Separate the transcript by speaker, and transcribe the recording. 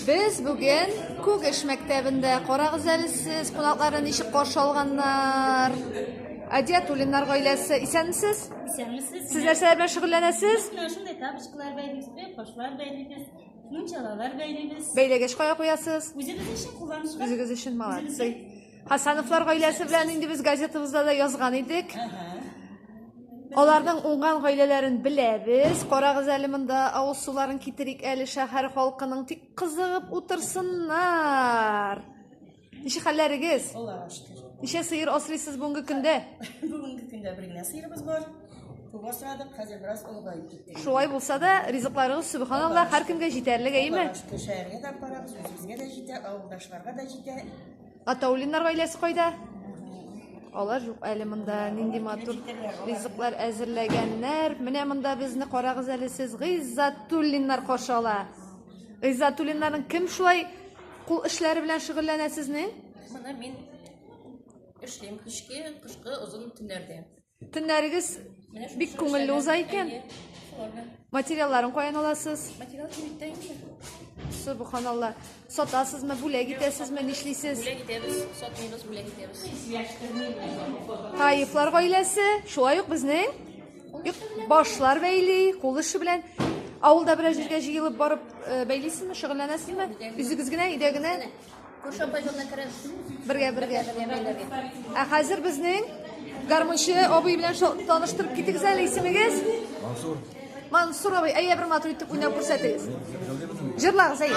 Speaker 1: Без бүген Күгеш мәктәбендә. Карагыз әле сез, кунакларны ничек каршы алганнар. Адиатуллиннар гаиләсе. Исәнмесез? Исәнмесез. Сез
Speaker 2: нәрсәләр белән
Speaker 1: шөгыльләнәсез? Менә шундый тапочкалар
Speaker 2: бәйлибез, бер кошлар бәйлибез, мунчалалар бәйлибез. Бәйләгәч кая куясыз?
Speaker 1: Үзебез өчен кулланышка.
Speaker 2: Үзегез өчен молодцы.
Speaker 1: Үзебезгә. Хасановлар гаиләсе белән инде без газетабызда да язган идек. Аларның уңган гаиләләрен беләбез. Карагыз әле монда авыз суларын китерик әле шәһәр халкының тик кызыгып утырсыннар. Ничә хәлләрегез? Аллаһка шөкер.
Speaker 2: Ничә сыер асрыйсыз
Speaker 1: бүгенге көндә? Бүгенге көндә
Speaker 2: бер генә сыерыбыз бар. Күп асрадык, хәзер бераз олыгаеп китте. Шулай булса да,
Speaker 1: ризыкларыгыз субханаллах һәркемгә җитәрлек, әйеме? Аллаһка шөкер, шәһәргә дә
Speaker 2: барабыз, үзебезгә дә җитә, авылдашларга да җитә. Атаулиннар
Speaker 1: гаиләсе кайда? Алар юк әле монда. Нинди матур ризыклар әзерләгәннәр. Менә монда безне карагыз әле сез. Гыйззатуллиннар каршы ала. Гыйззатуллиннарның кем шулай кул эшләре белән шөгыльләнә сезнең? Моны мин
Speaker 3: эшлим кичке, кышкы, озын төннәрдә. Төннәрегез
Speaker 1: бик күңелле уза икән. Материалларын каян аласыз? Материал
Speaker 3: кибеттә инде. Субханалла.
Speaker 1: Сатасызмы, бүләк итәсезме, нишлисез?
Speaker 3: Бүләк итәбез, сатмыйбыз, бүләк итәбез.
Speaker 1: Таифлар гаиләсе, шулай ук безнең юк, башлар бәйли, кул эше белән авылда берәр җиргә җыелып барып э, бәйлисезме, шөгыльләнәсезме? Үзегез генә өйдә генә Күрше апай
Speaker 3: җанына керәбез. Бергә, бергә.
Speaker 1: Ә хәзер безнең гармунчы абый белән таныштырып китегез әле исемегез. Мансур. Мансур абый, әйе бер матур итеп уйнап күрсәтегез. Җырлагыз, әйе.